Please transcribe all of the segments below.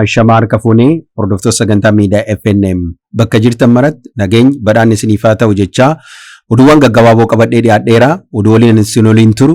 Ashamaa harka fuunee hordoftoota sagantaa miidiyaa FNM bakka jirtan maratti nageenyi badhaan isiniif haa ta'u jechaa oduuwwan gaggabaaboo qabadhee dhiyaadheera oduu waliin isin waliin turu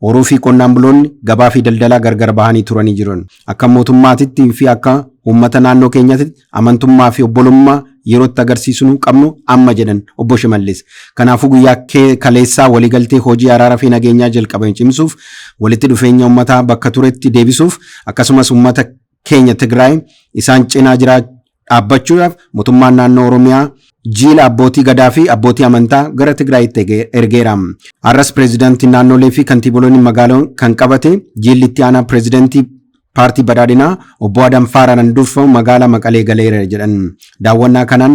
Horuu fi qonnaan buloonni gabaa fi daldalaa gargar bahanii turanii jiran. Akka mootummaatitti fi akka uummata naannoo keenyatti amantummaa fi obbolummaa yeroo itti agarsiisnu qabnu amma jedhan Obbo Shimallis. Kanaafuu guyyaa kaleessaa waliigaltee hojii araara fi nageenyaa jalqabame cimsuuf, walitti dhufeenya uummataa bakka turetti deebisuuf akkasumas uummata keenya Tigraay isaan cinaa jiraa dhaabbachuudhaaf motummaan naannoo Oromiyaa jiila abbootii gadaa fi abbootii amantaa gara Tigraayitti ergeera. Har'as pireezidantiin naannolee fi kantiiboloonni magaaloo kan qabate jiilli itti aanaa pireezidantii paartii badhaadhinaa obbo Adam Faaraanan durfamu magaalaa Maqalee galeera jedhan. Daawwannaa kanaan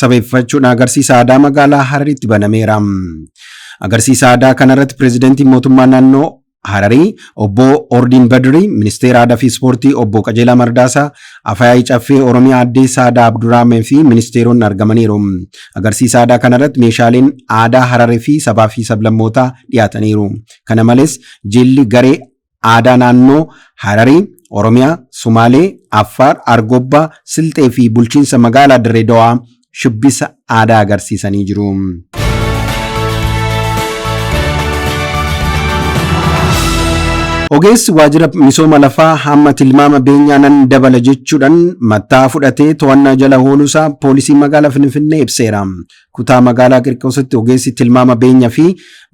sabeeffachuun agarsiisa aadaa magaalaa Harariitti banameera. Agarsiisa aadaa kanarratti pireezidantiin mootummaa naannoo Hararii obbo Ordiin Badrii, ministeera aadaa fi ispoortii obbo Qajeelaa Mardaasaa, Afayaa'ii Caffee Oromiyaa Addee Saadaa Abdurraamee fi ministeeronni argamaniiru. Agarsiisa aadaa kanarratti meeshaaleen aadaa Hararii fi sabaa fi sablammootaa dhiyaataniiru. Kana malees jilli garee aadaa naannoo Hararii, Oromiyaa, Sumaalee, Affaar, Argobbaa, Silxee fi Bulchiinsa Magaalaa Dirree Dawaa shubbisa aadaa agarsiisanii jiru. Ogeessi waajjira misooma lafaa hamma tilmaama beenyaa nan dabala jechuudhaan matta'aa fudhatee to'annaa jala ooluusaa poolisiin magaalaa Finfinnee ibseera. Kutaa magaalaa Qirqoositti ogeessi tilmaama beenyaa fi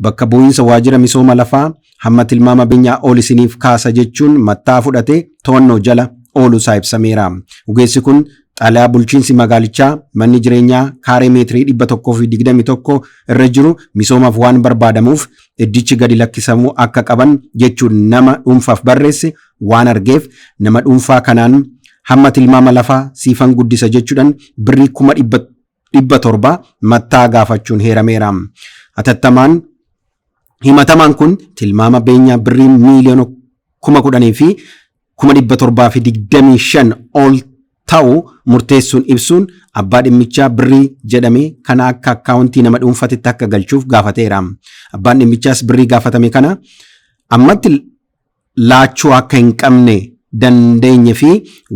bakka bu'iinsa waajjira misooma lafaa hamma tilmaama benyaa ol isiniif kaasa jechuun mattaa fudhatee to'annoo jala ooluu isaa ibsameera. Ogeessi kun xalayaa bulchiinsi magaalichaa manni jireenyaa kaaree meetirii 121 irra jiru misoomaaf waan barbaadamuuf iddichi gadi lakkisamuu akka qaban jechuun nama dhuunfaaf barreesse waan argeef nama dhuunfaa kanaan hamma tilmaama lafaa siifan guddisa jechuudhan birrii kuma dhibba dhibba torba mattaa gaafachuun heerameera. Atattamaan himatamaan kun tilmaama beenyaa birrii miiliyoona kuma kudhanii fi kuma dhibba torbaa fi digdamii shan ol ta'u murteessuun ibsuun abbaa dhimmichaa birrii jedhame kana akka akkaawuntii nama dhuunfatitti akka galchuuf gaafateera. Abbaan dhimmichaas birrii gaafatame kana ammatti laachuu akka hin qabne dandeenye fi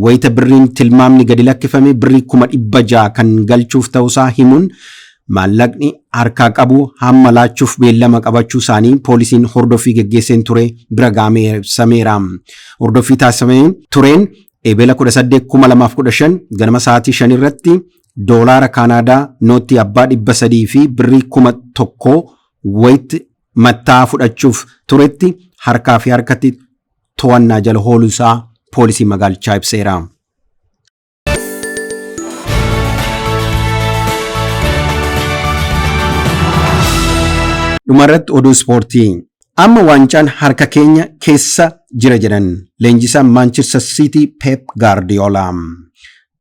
wayita birriin tilmaamni gadi lakkifame birrii kuma 600 kan galchuuf ta'usaa himuun maallaqni harkaa qabu hamma laachuuf beellama qabachuu isaanii poolisiin hordoffii geggeesseen ture bira gahamee ibsameera. Hordoffii taasifamee tureen Ebela 18 2015 ganama sa'aatii 5 irratti doolaara Kaanaadaa nootii abbaa 300 fi birrii kuma tokko wayitti matta'aa fudhachuuf turetti harkaa fi harkatti to'annaa jala ooluu isaa poolisiin magaalichaa ibseera. Dhumarratti oduu ispoortii. Amma waancaan harka keenya keessa jira jedhan leenjisaan Maanchester Siitii Peep Gaardiyoolaa.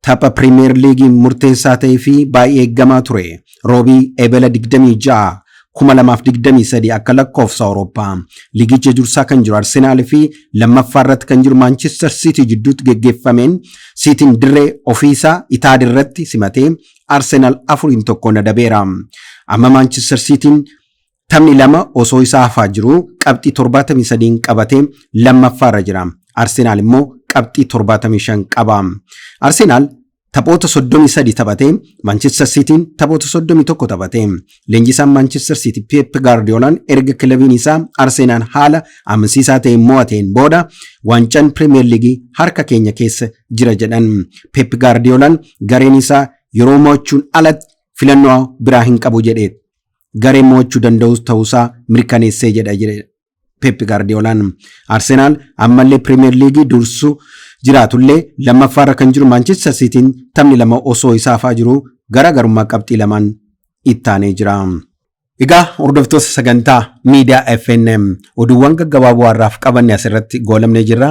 Tapha Piriimeer Liigii murteessaa ta'ee fi baay'ee eeggamaa ture Roobii Ebela 26, 2023 akka lakkoofsa Awurooppaa liigicha dursaa kan jiru Arsenaal fi lammaffaa irratti kan jiru Maanchister Siitii jidduutti geggeeffameen Siitiin dirree ofiisaa Itaad irratti simatee Arsenaal 4-1 adabeera. Amma Maanchister Siitiin Taphni lama osoo isaa hafaa jiruu qabxii 73n qabatee lammaffaarra jira. Arsenaal immoo qabxii 75 qaba. Arsenaal taphoota 33 taphatee Manchester Siitiin taphoota 31 taphate. Leenjisaan Manchester Siiti Peep Gaardiyoolaan erga kilabiin isaa Arsenaan haala amansiisaa ta'een mo'ateen booda waancaan Pirimeer Liigii harka keenya keessa jira jedhan. Peep Gaardiyoolaan gareen isaa yeroo mo'achuun alatti filannoo biraa hin qabu jedhe. garee mo'achuu danda'us ta'uusaa mirkaneessee jedha jedhe Peep Gaardiyoolaan. Arsenaal ammallee Piriimeer Liigii dursu jiraatullee lammaffaarra kan jiru Maanchester Siitiin taphni lama osoo isaa hafaa jiru garaagarummaa qabxii lamaan ittaanee jira. Egaa hordoftoota sagantaa miidiyaa FNM oduuwwan gaggabaaboo har'aaf qabanne asirratti goolabnee jirra.